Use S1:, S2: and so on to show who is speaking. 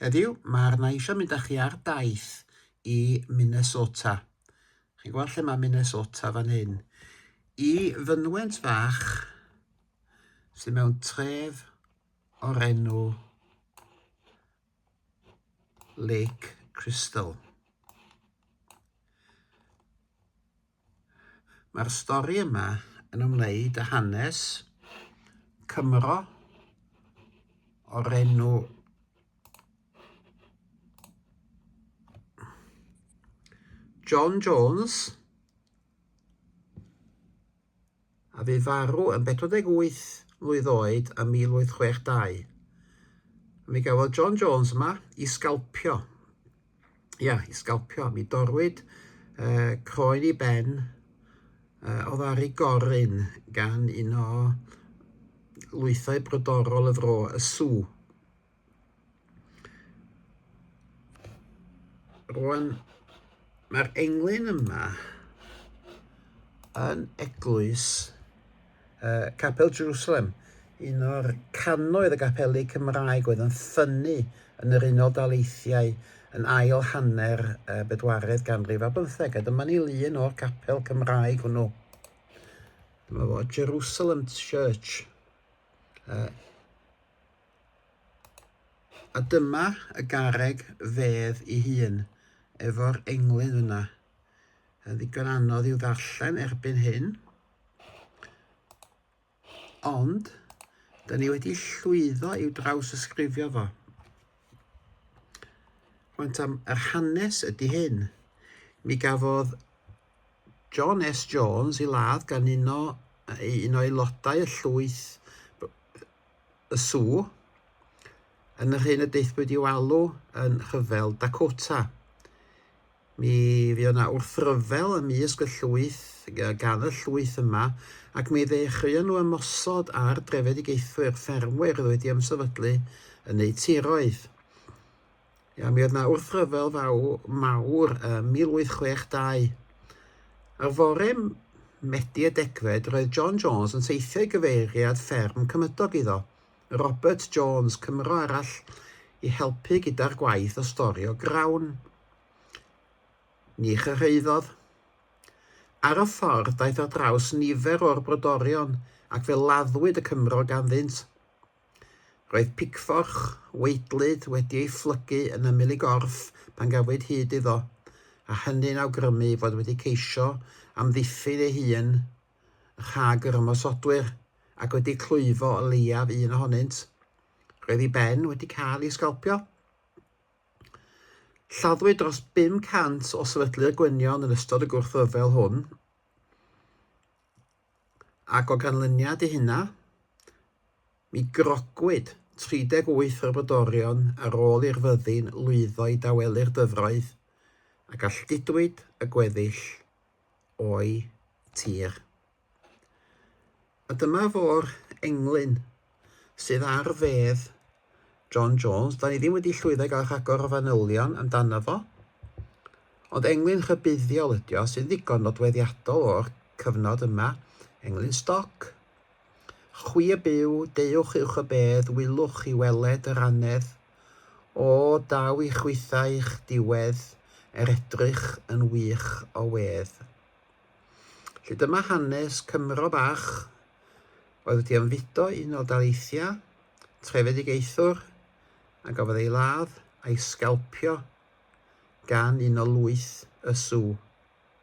S1: Heddiw, mae arna i eisiau mynd â chi ar daith i Minnesota. Chi'n gweld lle mae Minnesota fan hyn? I fynwent fach sy'n mewn tref o'r enw Lake Crystal. Mae'r stori yma yn ymwneud â hanes Cymro o'r enw John Jones, a fu farw yn 48 mlwydd oed ym 1862. Mi gafodd John Jones yma i sgalpio. Ia, i sgalpio. Mi dorwyd uh, croen i ben uh, o ddari goryn gan un o lwythau brodorol y fro, y sw. Rwan, mae'r englyn yma yn eglwys uh, Capel Jerusalem, un o'r canoedd y gapeli Cymraeg oedd yn ffynnu yn yr Unol Daleithiau yn ail hanner uh, bedwaredd ganrif a bymtheg, a dyma ni lun o'r capel Cymraeg hwnnw. Dyma fo, Jerusalem Church. Uh, A dyma y garreg fedd ei hun, efo'r englyn yna. Yn ddigon anodd i'w ddarllen erbyn hyn. Ond, da ni wedi llwyddo i'w draws ysgrifio fo. Rwy'n am yr hanes ydy hyn. Mi gafodd John S Jones i ladd gan un o, un o aelodau y llwyth y sw, yn yr hyn y deithpwyd i'w alw yn rhyfel Dakota. Mi fuodd yna wrthryfel ym mysg y llwyth, gan y llwyth yma, ac mi ddechreuon nhw ymosod ar drefedigaethwyr, ffermwyr oedd wedi ymsefydlu yn eu tiroedd. Ia, mi oedd na wrthryfel fawr, mawr ym 1862. Ar fore Medi y degfed, roedd John Jones yn teithio i gyfeiriad fferm cymydog iddo, Robert Jones, Cymro arall, i helpu gyda'r gwaith o storio grawn. Ni chyrhaeddodd. Ar y ffordd, daeth ar draws nifer o'r brodorion ac fe laddwyd y Cymro ganddynt. Roedd picfforch waedlyd wedi ei phlygu yn ymyl ei gorff pan gafwyd hyd iddo, a hynny'n awgrymu ei fod wedi ceisio amddiffyn ei hun rhag yr ymosodwyr ac wedi clwyfo o leiaf un ohonynt. Roedd ei ben wedi cael ei sgalpio. Lladdwyd dros 500 o sefydlu'r gwynion yn ystod y gwrthryfel hwn, ac o ganlyniad i hynna, mi grogwyd 38 o'r brodorion ar ôl i'r fyddin lwyddo i dawelu'r dyfroedd, a galldidwyd y gweddill o'u tir. A dyma fo'r englyn sydd ar fedd John Jones. Da ni ddim wedi llwyddo i gael rhagor o fanylion amdano fo, ond englyn rhybuddiol ydi o, sy'n ddigon nodweddiadol o'r cyfnod yma, englyn stoc. Chwi y byw, deuwch uwch y bedd, wylwch i weled yr annedd. O, daw i chwithau i'ch diwedd, er edrych yn wych o wedd. Felly dyma hanes Cymro bach oedd wedi ymfudo i un o daleithiau trefedigaethwr a gafodd ei ladd a'i sgalpio gan un o lwyth y Sŵ.